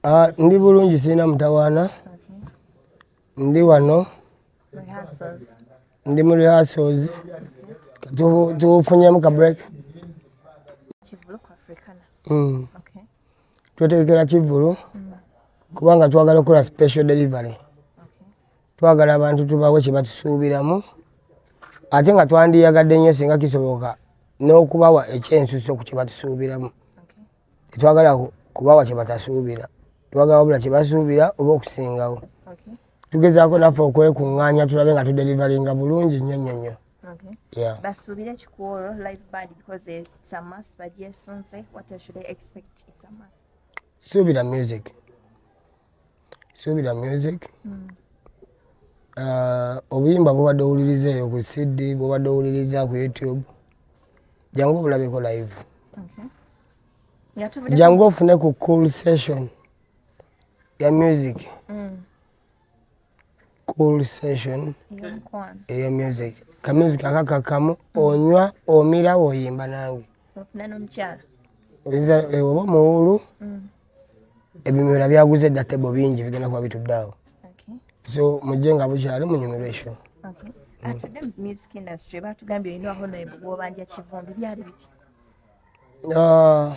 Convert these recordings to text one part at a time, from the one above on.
Ah, ndi bulungi sirina mutawaana ndi wano ndi mu rehearsals tufunyemu ka break hmm. twetegekera kivulu hmm. kubanga twagala okukola special delivery Twagala abantu tubawe kye batusuubiramu ate nga twandiyagadde nnyo singa kisoboka n'okubawa ekyensuso ku kye batusuubiramu. Tetwagala kubawa kye batasuubira, twagala wabula kye basuubira oba okusingawo. Tugezaako naffe okwekung'anya tulabe nga tuderivalinga bulungi nnyo nnyo nnyo. Basuubire kikuwolo live band because it's a must bagyesunze what should I expect it's a must. Suubira music. suubira music mm. uh, obuyimba bubadde owuliriza eyo ku cd bubadde owuliriza ku youtube jangu obulabeko live jangu ofune ku cool session ya music mm. cool session eya music kamusic akakakamu mm. onywa omira woyimba nange oba omuwulu ebimera byaguze dda tebo bingi bigenda kuba bitudde awo so mujje nga bukyali munyumirwa esho atudde mu music industry batugambye olina honorable gwobanja kivumbi byali biti ah,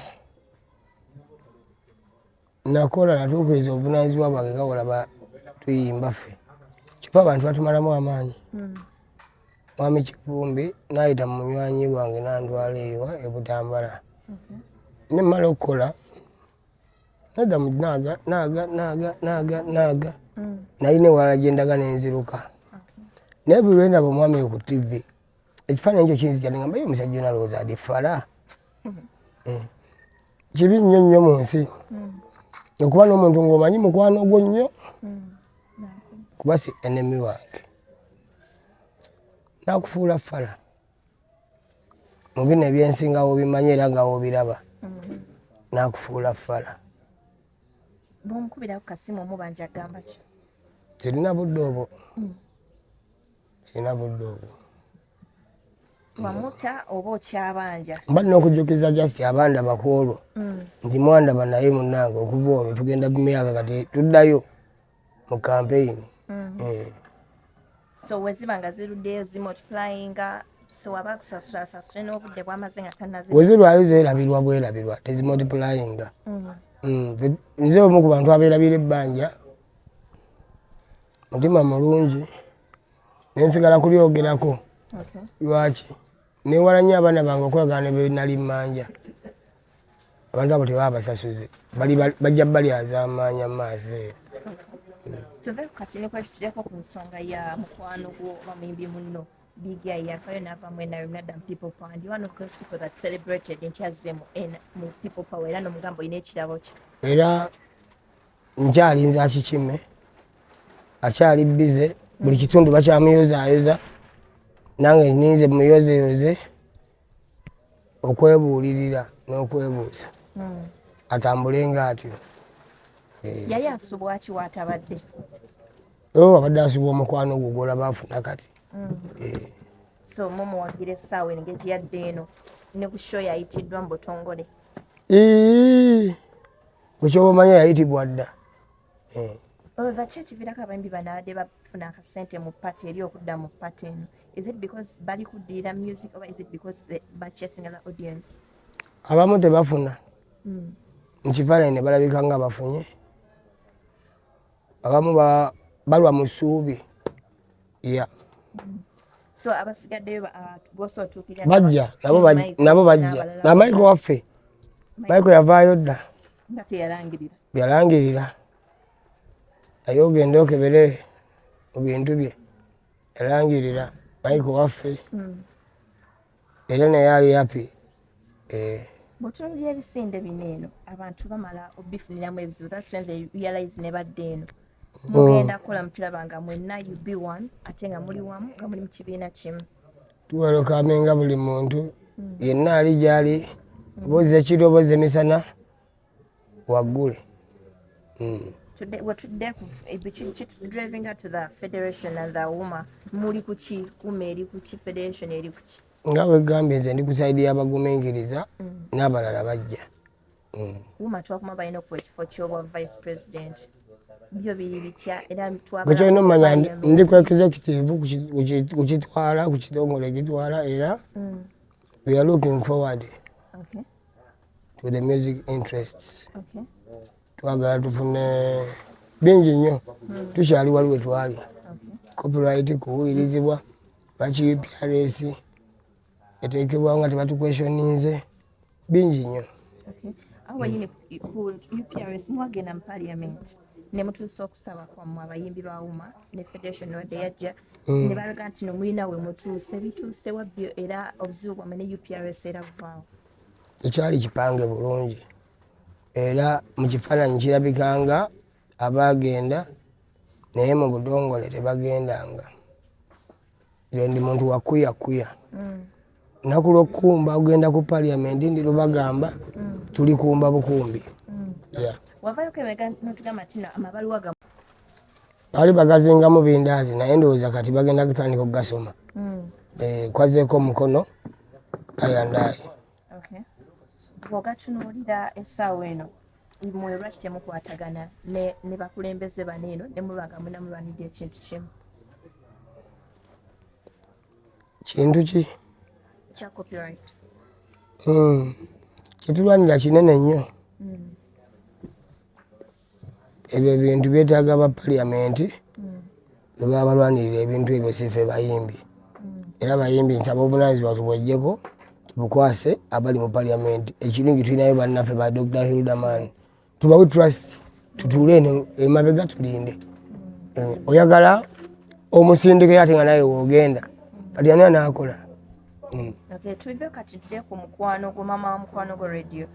nakola natuukiriza obuvunanyizibwa bwange nga olaba tuyimba ffe kyokka abantu batumalamu amaanyi hmm. mwami kivumbi nayita munywanyi wange nandwala ewa ebutambala mhm. nemala okukola nada munaga naga naga naga naga mm. naye newala gyendaga nenziruka naye buli lwendaba omwami oyo ku tv ekifaananyi ekyo kinzija nengamba ye omusajja onalowooza adi fala eh. kibi nnyo nnyo mu nsi mm. okuba n'omuntu ng'omanyi mukwano gwo nnyo mm. kuba si enemi wange nakufuula fala mu bino ebyensi nga wobimanyi era nga wobiraba mm-hmm. nakufuula fala kirina budde obwo mm. kirina budde obwo wamuta oba okyabanja mba nina okujjukiza just abanda bakwolwo mm. nti mwandaba naye munange okuva olwo tugenda bumyaka kati tuddayo mu campaign mm. eh. so weziba nga ziruddeyo zimultiplyinga sewaba kusasula asasule n'obudde bwamaze nga tanazi wezirwayo zerabirwa bwerabirwa tezimultiplyinga mm. mm, nze omu ku bantu abeerabira ebbanja mutima mulungi nensigala kulyogerako lwaki newala nnyo abaana bange okulagana nebenali mmanja abantu abo tebaba basasuzi bajja balyazaamaanya mu maaso eyo tuve ku katini kwekyo tulyeko ku nsonga ya mukwano gwo oba muyimbi munno bigi yafaayo naava mu nrm nadda mu people power ndi one of those people that celebrated nti azze mu people power era nomugamba olina ekirabo kye era nkyalinza akikime akyali bize buli kitundu bakyamuyozaayoza nange ninze muyozeyoze okwebuulirira n'okwebuuza hmm. atambulenga atyo eh. yali asubwa ki waatabadde oh, abadde asubwa omukwano ogwo gwolaba afuna kati hmm. eh. so mumuwagira essaawa eno gejiyadde eno ne ku sho yayitiddwa mu butongole bwekyoba omanya yayitibwa dda eh. olowooza ki ekiviirako abayimbi banabadde bafuna akasente mu pati eri okudda mu pati eno is it because bali kuddirira music oba is it because bachasing other audience abamu tebafuna hmm. mu kifaananyi ne balabika nga bafunye abamu balwa mu ssuubi ya hmm. so abasigaddeyo uh, bosa otuukirira bajja nabo bajja na maiko waffe maiko yavaayo dda nga teyalangirira byalangirira naye ogende okebere mu bintu bye yalangirira maiko waffe hmm. era naye ali happy eh. mutunulira ebisinde bino eno abantu bamala obifuniramu ebizibu thats when they realize nebadde eno hmm. mugenda kukola mutulaba nga mwenna you be one ate nga muli wamu nga muli mu kibiina kimu tuwelokamenga buli muntu hmm. yenna ali gyali obozi ekiro obozi emisana waggulu mm. wetudde kitudrivinga to the federation and the woma muli kuki woma eri kuki federation eri kuki nga wegambye nze ndi ku saidi y'abaguminkiriza mm. n'abalala bajja mm. woma twakuma balina okuwa ekifo ky'obwa vice president byo biri bitya era twakyekyolina omumanya ndi ku executive kukitwala ku kitongole ekitwala era mm. we are looking forward okay. to the music interests okay. twagala tufune bingi nnyo mm. tukyali wali we twali okay. copyright kuwulirizibwa lwaki uprs etekebwa nga tebatukweshoninze bingi nnyo okay. awo wenyini ku uprs mwagenda mu parliament ne mutuusa okusaba kwammwe abayimbi ba uma ne federation wadde yajja mm. ne balaga nti nomulina we mutuuse bituuse wabbyo era obuzibu bwammwe ne uprs era buvaawo tekyali kipange bulungi era mu kifaananyi kirabika nga abaagenda naye mu budongole tebagendanga gendi muntu wakuyakuya mm. naku lwokukumba ogenda ku paliamenti ndi lubagamba mm. tuli kumba bukumbi mm. Baali bagazingamu bindaazi naye ndowooza kati bagenda kutandika okugasoma mm. eh, kwazeeko omukono ayandaayo bwogatunuulira essaawa eno mwe lwaki temukwatagana ne bakulembeze bano eno ne muba nga munamulwanidde ekintu kimu kintu ki kya copyright hmm. kyetulwanira kinene nnyo mm. Ebyo ebintu byetaaga ba parliament bebaba balwanirira ebintu ebyo sife bayimbi mm. era bayimbi nsaba obunanyizibwa tubwejjeko tubukwase abali mu parliament ekirungi tulinayo bannaffe ba dr hildaman tubawe trust tutuule eno emabega tulinde mm. eh, oyagala omusindikeyo ate nga naye wogenda kati ani anaakola Mm. Okay, tuive kati tude ku mukwano gwo mama wa mukwano gwo radio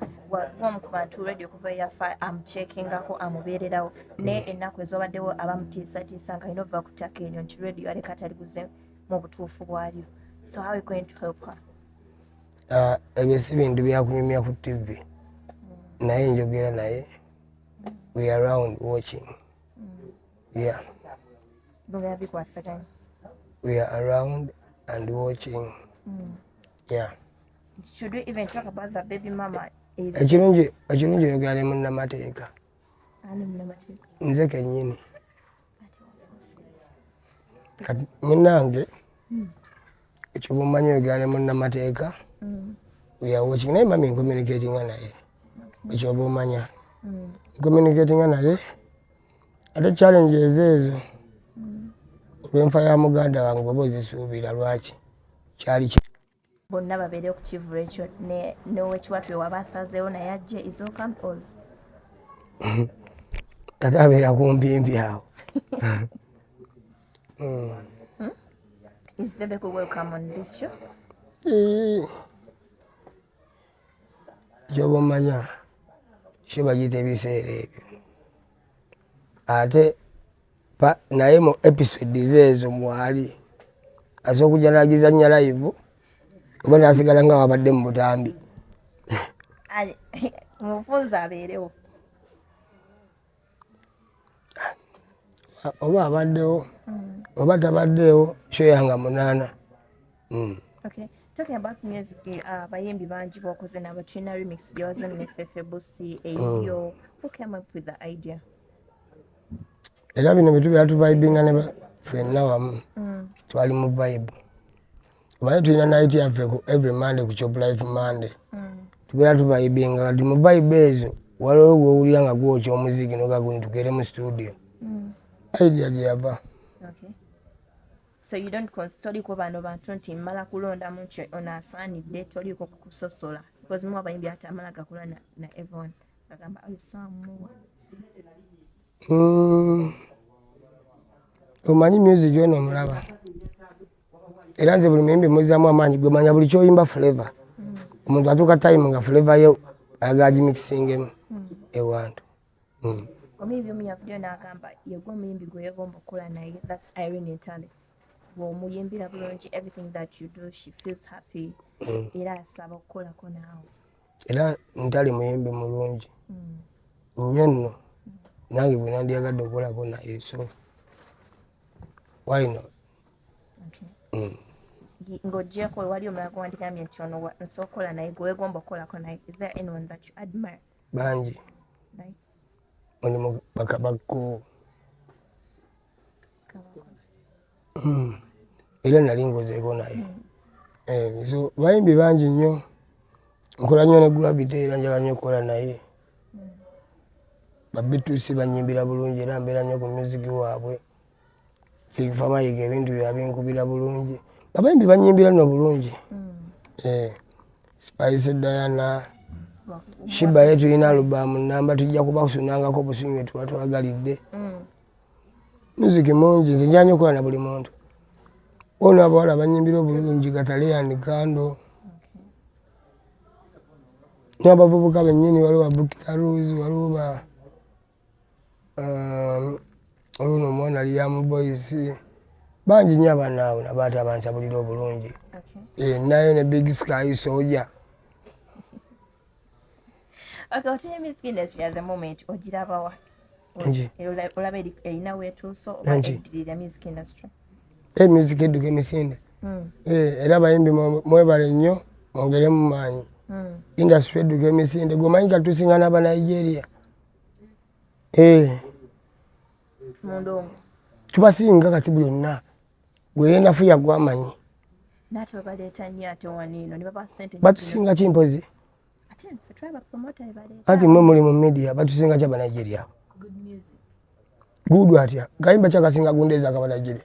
gwomu ku bantu radio kuva yafa amuchekingako amubeererawo naye mm. ennaku ezobaddewo abamutiisatiisa nga alina okuva ku ttaka eryo nti radio aleka taliguze mu butuufu bwalyo so how you going to help her ah, ebyo si bintu byakunyumya ku tv mm. naye njogera naye we around watching Yeah. We are around and watching. Mm. Yeah. Should we even talk about the baby mama? Ekirungi ekirungi oyogera ne munnamateeka. Ani munnamateeka? Nze kennyini. Kati munnange hmm. ekyo bummanyi oyogera ne munnamateeka. Hmm. We are watching naye mami nkomunikatinga naye. Ekyo bumanya. Hmm. Nkomunikatinga naye. ate challenge ezeezo olwenfa ya muganda wange bwoba ozisuubira lwaki kyali ki bonna babeere ku kivulu ekyo nowekiwatu ewaba asazeewo naye ajje isoka all ate abeera kumpimpi awo hmm? Is Bebe welcome on this show? Eh, kyoba omanya kyo bagiyita ebiseera ebyo ate naye mu episodes ezo mwali asobola okujja nagizanya live oba nasigala nga wabadde mu butambi mufunza abeerewo oba abaddewo mm. oba tabaddeewo kyoyanga munaana mm. okay. talking about music uh, bayimbi uh, bangi bokoze nabo tulina remix gyoze nefefe busi eyo mm. who came up with the idea era bino bitu byatuvibinga ne fenna wamu mm. twali mu vibe omanyi tulina nayiti yaffe ku every monday ku chop life monday mm. tubeera tuvaibinga kati mu vaibe ezo waliwo gwowulira nga gwokya omuziki nogaguni tugere mu studio mm. idea gye yava so you don't toliko bano bantu nti mmala kulonda muntyo ono asaanidde toliko kukusosola because muwa bayimbi ati amala gakula na, na evon agamba ayisamuwa mm. omanyi music ono omulaba era nze buli muyimbi muzaamu amaanyi gwe manya buli kyoyimba flavor omuntu atuuka time nga flavor ye ayagala gimixingemu hmm. ewantu hmm. omuyimbi omu yavuddeyo n'agamba yegwe omuyimbi gwe yegomba okukola naye thats irene entale bwomuyimbira bulungi everything that you do she feels happy hmm. era asaba okukolako naawe era ntali muyimbi mulungi nnyo nno nange bwenandiyagadde okukolako naye so why not mm. ng'ogyeko wali omulala gwewandigambye nti ono nsobola okukola naye gwewegomba okukolako naye is there anyone that you admire bangi mulimu bakabakko hmm. era nali ngozeeko naye hmm. eh, so bayimbi bangi nnyo nkola nnyo ne gravity era njala nnyo okukola naye hmm. babitusi banyimbira bulungi era mbeera nnyo ku music waabwe Silver Mayiga ebintu bye abinkubira bulungi. Abayimbi banyimbira no bulungi. Mm. Eh. Spice Diana. Shiba yetu ina alubamu namba tujja kuba kusunangako busunyu etuwa twagalidde. Mm. Music mungi nze njanyo kola na buli muntu. Ono abawala banyimbira obulungi Kataleya and Kando. Okay. N'abavubuka bennyini waliwo ba Bukita Rose waliwo ba Um, oluno omwana ali yamu boys bangi nyo abaana abo nabaata bansabulira obulungi eh, nayo ne big sky soja ogirabawa olaba erina wetuuso oba eddirira music industry eh, music edduka emisinde hmm. eh, era abayimbi mwebale nnyo mwongeremu maanyi hmm. industry edduka emisinde gwemanyi katusinga n'abanigeria eh. tubasinga kati buli onna gweyenafu yagwamanyi batusinga ki mpozi anti mwe muli mu media batusinga ki abanigeria gudwa atya kayimba kyakasinga gundeeza akabanigeria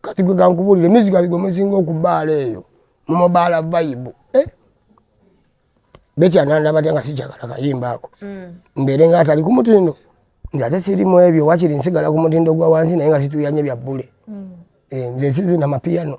kati gwe kankubulire music gwe musinga okubaala eyo mumobaala vibe eh? bekyananda batya nga sikyagala kayimba ako mm. mbeere nga atali ku mutindo nti ate siri mu ebyo wakiri nsigala ku mutindo gwa wansi naye nga situyanye bya bbule mm. eh, nze sizina mapiyano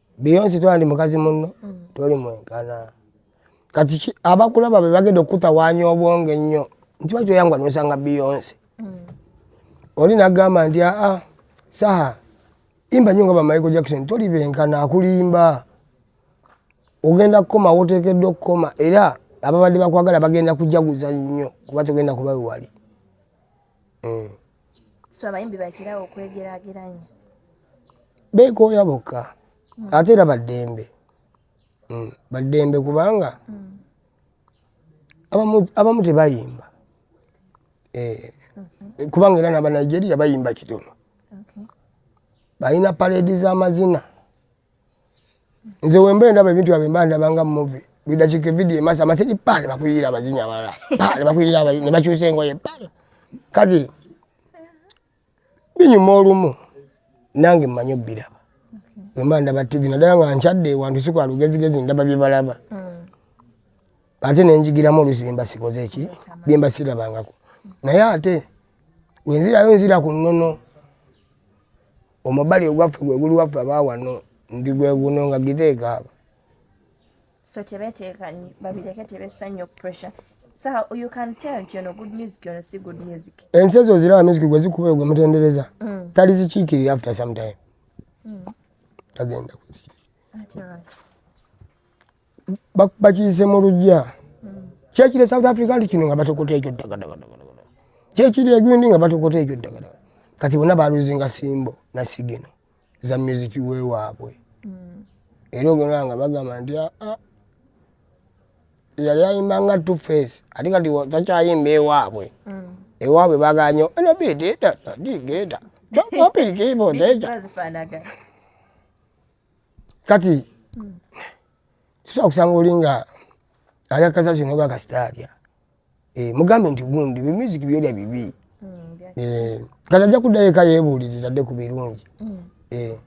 beyonsi tola ndi mukazi munno mm. toli mwenkana kati abakulaba bebagenda okukutawanya obwongo ennyo nti baki oyangwa nosanga beyonsi mm. oli nagamba nti aa ah, ah, saha imba nyo nga bamaiko jackson toli benkana akulimba ogenda kukoma wotekedde okukoma era ababadde bakwagala bagenda kujaguza nnyo kuba togenda kubawe wali mm. so abayimbi bakirawo okwegerageranya beekooya bokka mm. ate era baddembe mm. baddembe kubanga mm. abamu, abamu tebayimba eh. mm -hmm. kubanga era nabanigeria bayimba kitono okay. balina paledi z'amazina nze wemba endaba ebintu yabwe mba ndaba nga muvi buli dakiika evidiyo emasa amasegi pa ne bakuyiira abazinyi abalala pa ne bakuyiira abazinyi ne bakyusa engoye pa kati binyuma olumu nange mmanyi obbiraba wemba ndaba tivi naddala nga nkyadde ewantu si kwa lugezigezi ndaba bye balaba mm. ate ne njigiramu oluusi bye mba sikoze eki bye mba sirabangako naye ate wenzirayo nzira ku nnono Omubali ogwaffe gwe guli waffe abaawano ndi gwe guno nga giteeka aba. So tebeteeka nyi babireke tebessa nnyo pressure. So you can tell nti ono good music ono si good music. Ensi ezo ziraba music gwe zikuba gwe mutendereza. Mm. Tali zikiikirira after some time. Mm. Tagenda kuzikiikirira. Ate lwaki? bakiyise mu lujja kyekiri e south africa nti kino nga batokota ekyo ddagadagadagada kyekiri egundi nga batokota ekyo ddagadaga kati bona baluzinga simbo nasigino za muziki wewaabwe mm. era ogenda nga bagamba nti aa ah, ah, yali ayimba nga two face ati kati takyayimba ewaabwe mm. ewaabwe baganyo enobitidadigeeta tokopikiibodeja kati tusobola kusanga oli nga alya kasasi noga kasita alya eh, mugambe nti gundi bimiziki byolya bibi mm, eh, kati ajja kuddayo eka yeebuulirira dde ku birungi mm. eh.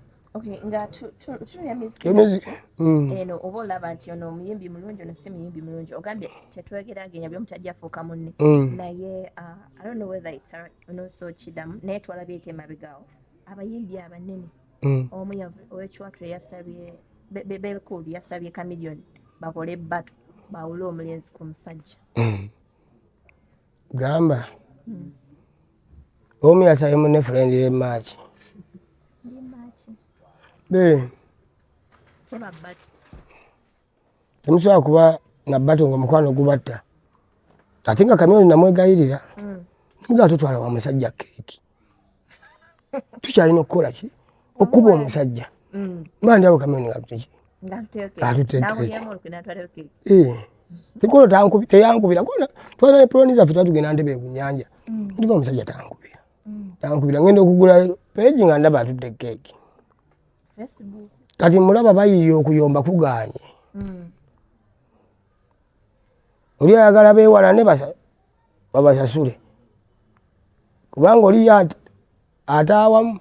mm. eno oba olaba nti ono omuyimbi mulungi ono si muyimbi mulungi ogambye tetwegeragenya byomu tajja afuuka munne naye uh, i don't know whether it's ono so kidamu naye twalabyeko emabegawo abayimbi abanene mm. omu owekicwatule yasabye bekulu yasabye chameleon bakole ebbatu bawule omulenzi ku musajja mm. gamba mm. omu yasabye mune furendi le maaki be temusobola kuba nabato nga omukwano gubatta ate nga kamyoni namwegayirira mm. nga tutwala wa musajja keeki tukyalina okukola ki okukuba omusajja mm. mandi awo kamyoni ngatuteki atutekeeki eh. tikulo teyankubira kona twala epuloni zaffe twatugenda ntebe kunyanja mm. ndika omusajja tankubira tankubira ngenda okugula peegi nga ndaba atudde keeki kati mulaba bayiye okuyomba kuganye hmm. oli ayagala bewalane babasasule kubanga oli ate awamu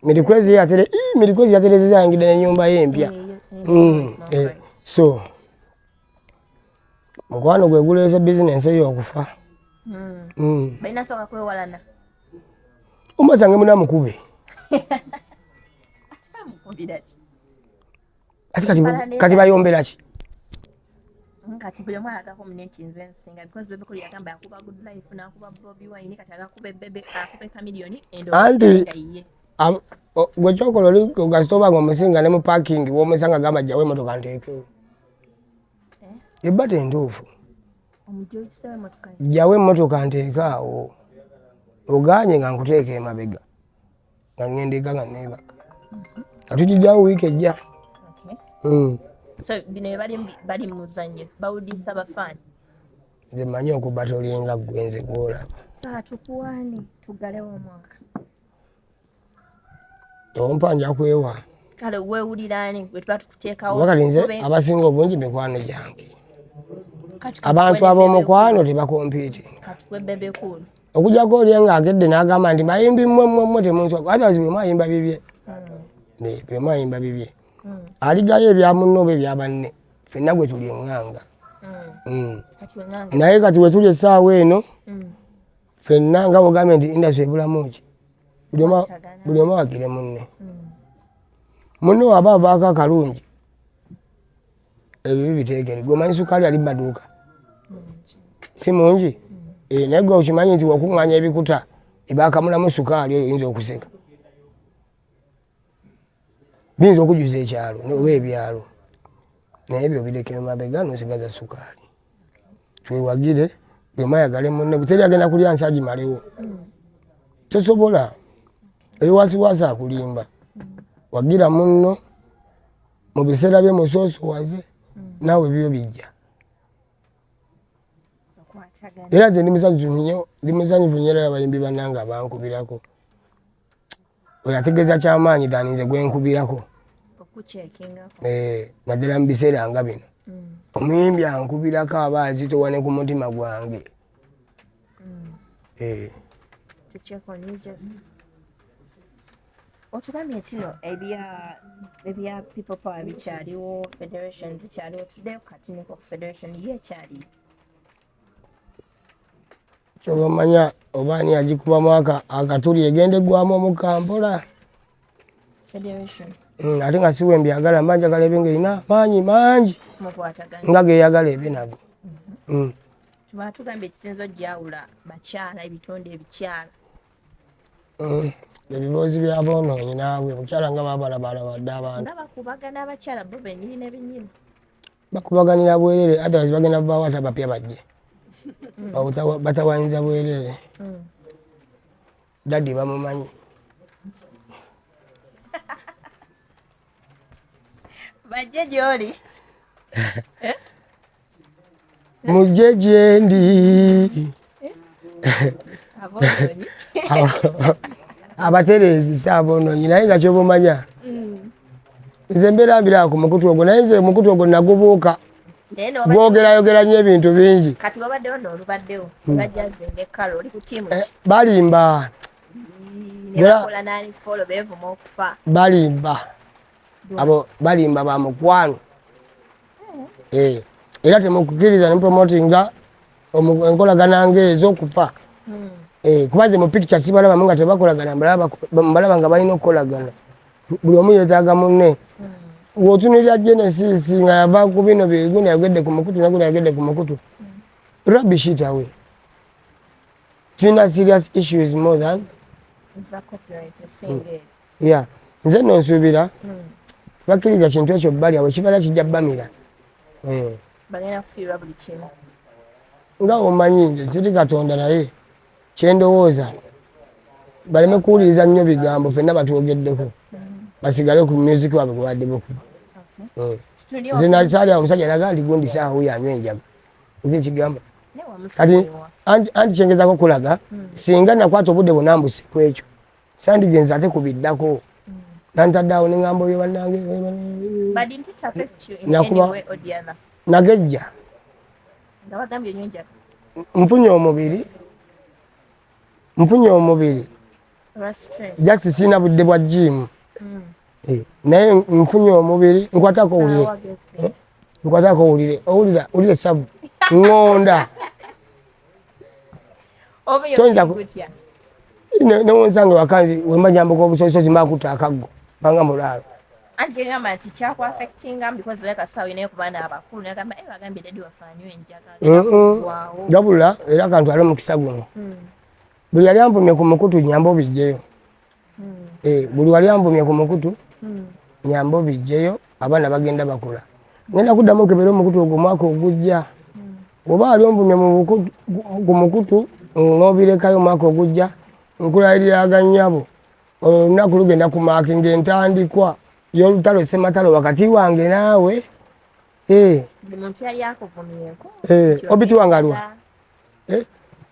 mirikwezi yatere mirikwezi yaterezeza yangida nenyumba ye empya hmm, eh, so mukwano gweguleese bizinensi eyo okufa hmm. balina soka kwewalana omwazange muna mukube ati kati kati bayombera ki kati buli omwana agako mune nti nze nsinga because bebe kuli yagamba yakuba good life nakuba bobi wine kati agakube bebe akube chameleon endo anti gwe kyokola oli gasita oba nga omusinga ne mu parking womusanga gamba jawo emotoka nteekewo eh? ebba tentuufu jjawo emmotoka nteeke awo oganye nga nkuteeka emabega nga ngenda eka nga neebaka nga tugijjawo wiiki ejja hmm. nze manyi okuba tolinga gwenze gwolaba ompa nja kwewa kale wewulira ani gwe tuba tukuteekawo wakati nze abasinga obungi mikwano gyange abantu ab'omukwano tebakompiiti okujako oli nga akedde n'agamba nti mayimbi mmwe mmwe mmwe temunsoka otherwise buli mwayimba bibye hmm. buli mwayimba bibye hmm. aligayo ebya munne oba ebya banne fenna gwe tuli eng'anga hmm. naye kati wetuli essaawa eno fenna nga wogambye nti industry ebulamu ki buli omu agire munne hmm. munne waba avaako akalungi ebibi biteekere gwe omanyi sukaali ali mumaduuka hmm, si mungi hmm. eh, naye gwe okimanyi nti wakuŋŋanya ebikuta ebakamulamu sukaali oyo oyinza okuseka biyinza okujuza ekyalo oba ebyalo naye ebyo birekere mabega nosigaza sukaali twewagire bwemayagale munne buteri agenda kulya nsi agimalewo tosobola eyo wasiwasi akulimba wagira munno mu biseera bye musoosowaze naawe bibyo bijja era nze ndi musanyufu nnyo ndi musanyufu nnyo era abayimbi bannange abankubirako oyo ategeeza kyamaanyi dani nze gwenkubirako eh, naddala mu biseera nga bino mm. omuyimbi ankubirako aba azitowa ne ku mutima gwange mm. eh. otugambye ntino ebya people power bikyaliwo federation zikyaliwo tuddeyo katiniko ku federation ye ekyaliyo kyobamanya oba ani agikubamu akatuli egenda eggwamu omukka mpola mm, ate nga siwe mbyagala mba njagala ebe nga erina maanyi mangi nga geyagala ebe nago mhm. mm. tuba tugambye ekisinza ojjawula bakyala ebitonde ebikyala mm. ebiboozi byaboonoonyi naawe omukyala nga babalabalabadde abantu Bakubaganira bwerere otherwise bagenda vaawo ate abapya bajje. Hmm. Batawanyiza bwerere. Hmm. Daddy bamumanyi. Bajje gyoli. Eh? mujje gyendi abatereezi si aboononyi naye nga kyoba omanya mm. nze mbeera mbiraba ku mukutu ogwo naye nze omukutu ogwo nagubuuka gwogerayogera nyo ebintu bingi mm. eh, balimba balimba abo balimba ba mukwano eh, era temukukiriza nemupromotinga enkolagana ngaezo okufa hmm. eh, kuba ze mupikica sibalabamu nga tebakolagana mbalaba nga balina okukolagana buli omu yetaaga munne hmm. wotunulira genesis nga yava ku bino biguna yagedde ku mukutu naguna yagedde ku mukutu hmm. rabishitawe tulina serious issues more than ya nze no nsubira bakiriza kintu ekyo bali awo kibala kijja bamira eh bagenda kufiirwa buli kimu nga omanyi nze siri katonda naye kyendowooza baleme kuwuliriza nnyo bigambo fenna batwogeddeko basigale ku music wabwe kubadde bukuba hmm. nze nasaali awo omusajja naga nti gundi saawa oyo anywa enjaga nze ekigamba kati anti kyengezako kulaga hmm. singa nakwata obudde bwona mbuse kwekyo sandigenze ate ku biddako nantadde awo ne ŋamba oyo bannange nagejja nfunye omubiri nfunye omubiri just siina budde bwa jiimu hmm. eh, naye nfunye omubiri nkwatako owulire eh, nkwatako owulire owulira owulire sabu ŋonda newonsanga wakanzi wemba nyambuka obusozisozi makuta akaggo banga mulaalo anti egamba nti kyakuafectinga because oleka sawa inaye ku baana abakulu nagamba e eh, bagambye dadi wafanyo enjagagabula era kantu ali omukisa guno hmm. buli yali anvumye ku mukutu nyamba obijjeyo hmm. eh, buli wali anvumye ku mukutu hmm. nyamba obijjeyo abaana bagenda bakula ngenda kuddamu nkebere omukutu ogwo omwaka ogujja hmm. oba wali onvumye ku mukutu nobirekayo omwaka ogujja nkulayiriraga nyabo olunaku lugenda ku maaki ngaentandikwa yolutalo sematalo wakati wange naawe eh. obitiwangalwa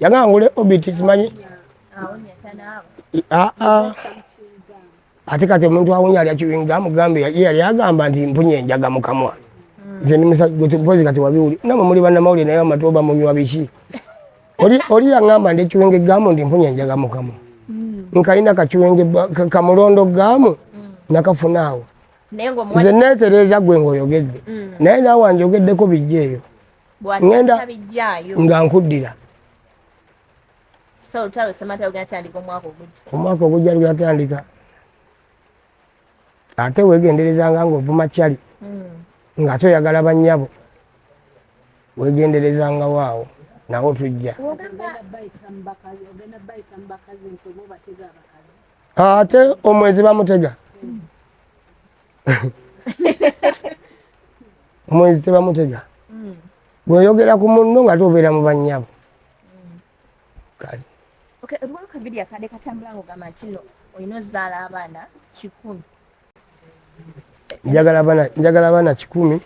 yagamba ngule obit simanyi ah, ah. ate kati omuntu awunya alya kiwingamu gambe ye yali agamba nti mpunye enjaga mukamwa hmm. nze ndi musagozi kati wabiwuli namwe muli bannamawulire naye amatu oba munywa biki oli yangamba ndi ekiwenge gamu ndi mpunye enjaga mukamwa hmm. nkalina kakiwenge kamulondo gamu hmm. nakafunaawo nze neetereeza gwe ngaoyogedde naye naawe anjogeddeko bijja eyo ngenda nga nkuddira omwaka ogujja lweyatandika ate wegenderezanga ngaovuma cali hmm. nga ate oyagala banyabo wegenderezanga waawo nawo tujja ate omwezi bamutega hmm. omwenzi tebamutega mm. bweyogera ku munno nga tobeera mu banyabo mm. kale olwakabiri akade katambula nga ogamba nti no olina ozaala abaana kikumi njagala abaana kikumi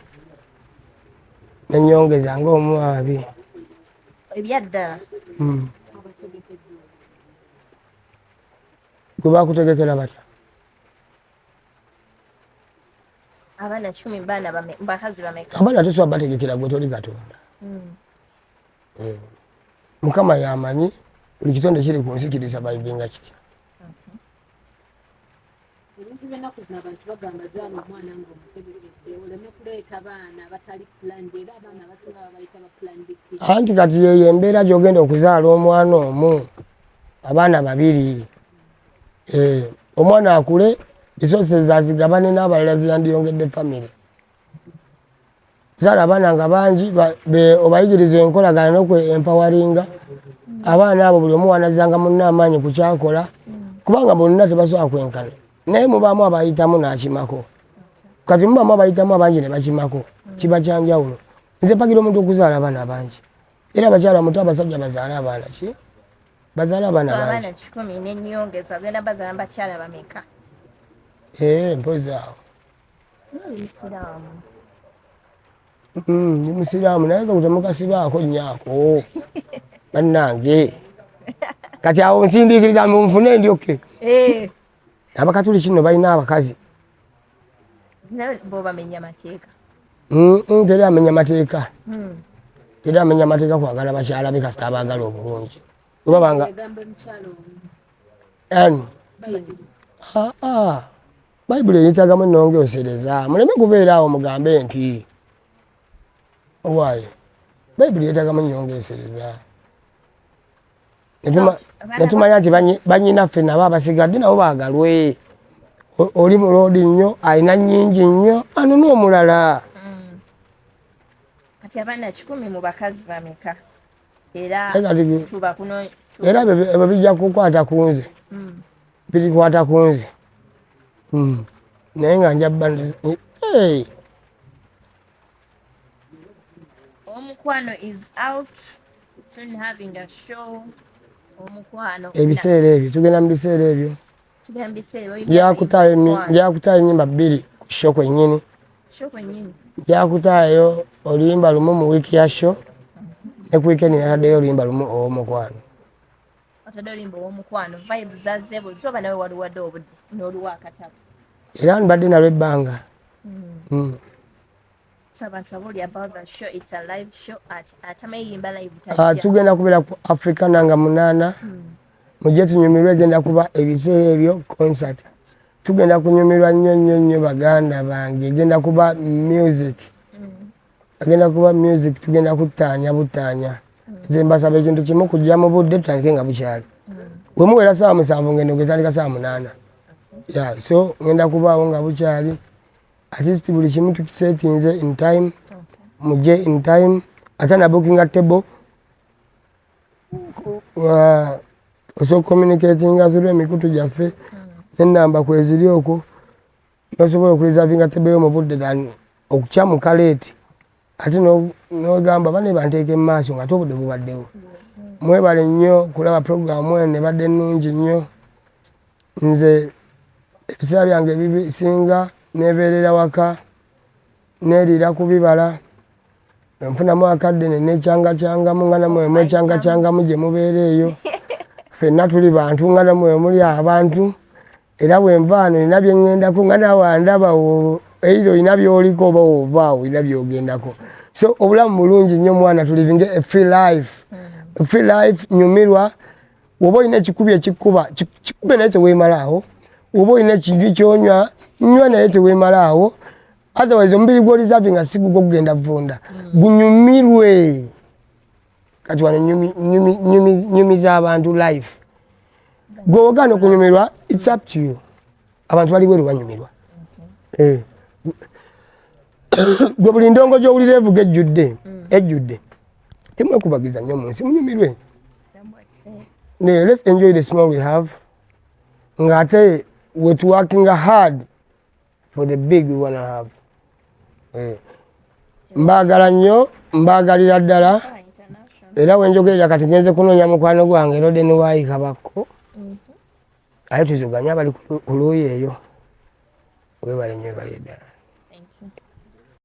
nenyongeza nga omwabi ebyaddala hmm. gwe bakutegekera batya abaana kumi baana bakazi bameka abaana tosobola bategekera gwe toli katonda hmm. eh, mukama yamanyi buli kitonde kiri ku nsi kiri savayivinga kitya ebintu byenaku zino abantu bagamba zaala omwana nga omutegekedde oleme kuleeta baana batali planned era abaana abasinga babayita ba planned anti kati yeyo embeera gyogenda okuzaala omwana omu abaana babiri eh, omwana akule resources azigabane n'abalala ziyandiyongedde famire zala abaana nga bangi obayigiriza enkolagana nokwe empawaringa abaana abo buli omuwanazanga munna amaanyi ku kyakola kubanga bonna tebasobola kwenkana naye mubaamu abayitamu n'akimako kati mubaamu abayitamu abangi ne bakimako kiba kyanjawulo nze mpagira omuntu okuzaala abaana abangi era abakyala muto abasajja bazaala abaana ki bazaala abaana bangi kikumi nenyongeza ogenda bazaala bakyala bameka ee eh, mpozi awo hmm, ndi musiraamu naye kakutemukasibaako nyaako bannange kati awo nsindiikiriza nfune ndyoke eh. abakatuli kino balina abakazi Mm, teri amenya mateeka hmm. teri amenya mateeka kwagala bakyala be kasita abaagala obulungi webabanga ani bayibuli eyitagamu enonga osereza muleme kubeera awo mugambe nti owaaye bayibuli yetagamu nyonga esereza netumanya nti banyinaffe nabo abasigadde nabo bagalwe oli muloodi nnyo alina nyingi nnyo anona omulala mm. kati abaana kikumi mu bakazi bameka era ebyo bijja kukwata ku nze mm. birikwata ku nze mm. naye nga njabba omukwano is out soon having a show omukwano ebiseera ebyo tugenda mu biseera ebyo njakutaayo enyimba bbiri ku sho kwennyini njakutaayo oluyimba lumu mu wiiki ya sho ne ku wiikendi nataddeyo oluyimba lumu ow'omukwano otadde olimba owomukwano vibe zazebo zoba nawe waliwadde obudde noluwa akatabo era nbadde nalwo ebbanga hmm. Hmm. Ah, tugenda kubeera ku africa nanga munaana hmm. mujje tunyumirwa egenda kuba ebiseera ebyo concert tugenda kunyumirwa nnyo nnyo nnyo baganda bange egenda kuba music hmm. agenda kuba music tugenda kutaanya butaanya hmm. nze mbasaba ekintu kimu kujja mu budde tutandike nga bukyali wemuwera saawa musanvu ngendo ngetandika saawa munaana ya so ngenda kubaawo nga bukyali at least buli kimu tukisetinze in time muje in time ate na bookinga table uh, osobola communicatinga through emikutu gyaffe hmm. nenamba kweziri okwo nosobola okureservinga table yo mu budde than okukyamuka leeti ate nogamba bane banteeka emumaaso nga ate obudde bubaddewo mwebale nnyo kulaba puroguramu eno ebadde nnungi nnyo nze ebiseera byange ebisinga nebeerera waka neriira ku bibala nfunamu akadde nenekyangacangamu nga namwe mwekyangacangamu gye mubeera eyo fenna tuli bantu nga namwe muli abantu Era bwe nva wano nina bye ŋŋendako nga naawe andaba either olina by'oliko oba w'ova awo olina by'ogendako. So obulamu bulungi nnyo mwana to living a free life. Mm. Free life nyumirwa woba olina ekikubi ekikuba kikube naye teweemalaawo woba olina ekinju kyonywa nywa naye teweemalaawo otherwise omubiri gwolisaavi nga sigugwo gugenda vunda mm. gunyumirwe kati wano nyumiza abantu life gwe ogana okunyumirwa its up to you abantu bali bweru banyumirwa eh. gwe buli ndongo gyowulira evuga ejjudde mm. ejjudde temwekubagiza nnyo mu nsi munyumirwe let's enjoy the small we have ng'ate wetuwakinga hard for the big we wanna have eh. mbaagala nnyo mbaagalira ddala era wenjogerera kati genze kunoonya mukwano gwange roden wayi kabakko mhm. aye tuzuganye abali ku luuyi eyo webale nyo ebaye ddala